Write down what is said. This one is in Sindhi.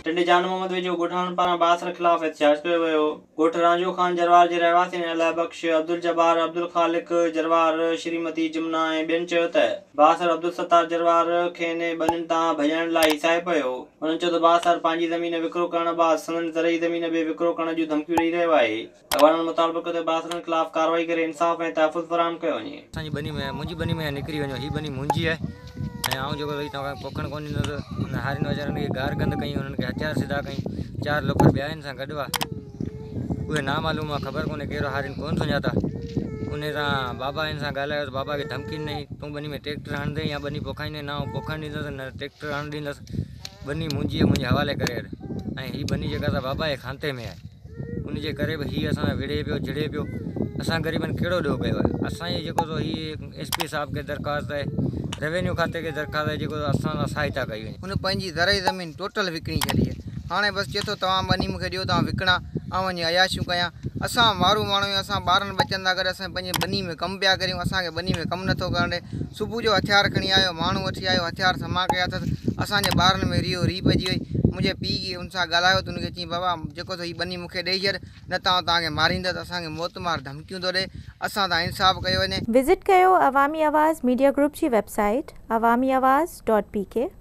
ٽنڊي جان محمد ويجهو ڳوٺاڻن پاران بااثر خلاف احتجاج ڪيو ويو. ڳوٺ رانجهو خان جروار جي رهواسين الهه بخش، عبدالجبار، عبدالخالق جروار، شريمتي جمنا ۽ ٻين چيو ته بااثر عبدالستار جروار کين ٻنين تان ڀڄائڻ لاء هيسائي پيو. هنن چيو ته بااثر پنهنجي زمين وڪرو ڪرڻ بعد سندن زرعي زمين به وڪرو ڪرڻ جون ڌمڪيون ڏئي رهيو آهي. عوانن مطالبو ڪيو ته بااثرن خلاف ڪارروائي ڪري انصاف ۽ تحفظ فراهم ڪيو وڃي. اسان جي ٻني ۾ منهنجي ٻني ۾ نڪري وڃو هي ٻني منهنجي آهي ۽ آئون جيڪو ويهي توهان کي پوکڻ ڪونه ڏيندس انهن هارين ويچارن کي گار گند ڪئي انهن کي هٿيار سڌا ڪئي چار لوفر ٻيا هن سان گڏ هئا اهي نامعلوم هئا خبر ڪونه ڪير هئا هارين ڪونه سڃاتا انهي سان بابا هن سان ڳالهايو ته بابا کي ڌمڪي ڏنائين تون ٻني ۾ ٽريڪٽر هڻندين يا ٻني پوکائيندين نه آئون پوکڻ ڏيندس نه ٽريڪٽر هڻڻ ڏيندس ٻني منهنجي آهي منهنجي حوالي ڪري هل ۽ هي ٻني جيڪا سا بابا جي کانتي ۾ آهي. ان جي ڪري به هي اسان سان وڙهي پيو جڙي پيو اسان غريبن ڪهڙو ڏوهه ڪيو آهي اسان جي جيڪو سو هي ايس پي صاحب کي درخواست آهي روينيو کاتي کي درخواست آهي جيڪو اسان سان سهائتا ڪئي وڃي. هن پنهنجي زرعي زمين ٽوٽل وڪڻي ڇڏي آهي هاڻي بس چئي ٿو توهان ٻني مون کي ڏيو ته آئون وڪڻان آئون وڃي عياشيون ڪيان اسان مارو ماڻهو آهيون اسان ٻارن ٻچن سان گڏ اسان پنهنجي ٻني ۾ ڪم پيا ڪريون اسان کي ٻني ۾ ڪم نه ٿو ڪرڻ ڏي صبح جو هٿيار کڻي آيو ماڻهو وٺي آيو هٿيار سما ڪيا اٿس اسان جي ٻارن ۾ ريهو ريهه پئجي وئي منهنجي پيء جي ان سان ڳالهايو ته ان کي چيائين بابا جيڪو ٿو هي ٻني مون کي ڏئي ڇڏ نه ته آئون توهان کي ماريندس اسان کي موت مار ڌمڪيون ٿو ڏئي اسان تان انصاف ڪيو وڃي. وزٽ ڪيو عوامي آواز ميڊيا گروپ جي website Awami Awaz dot P ڪي.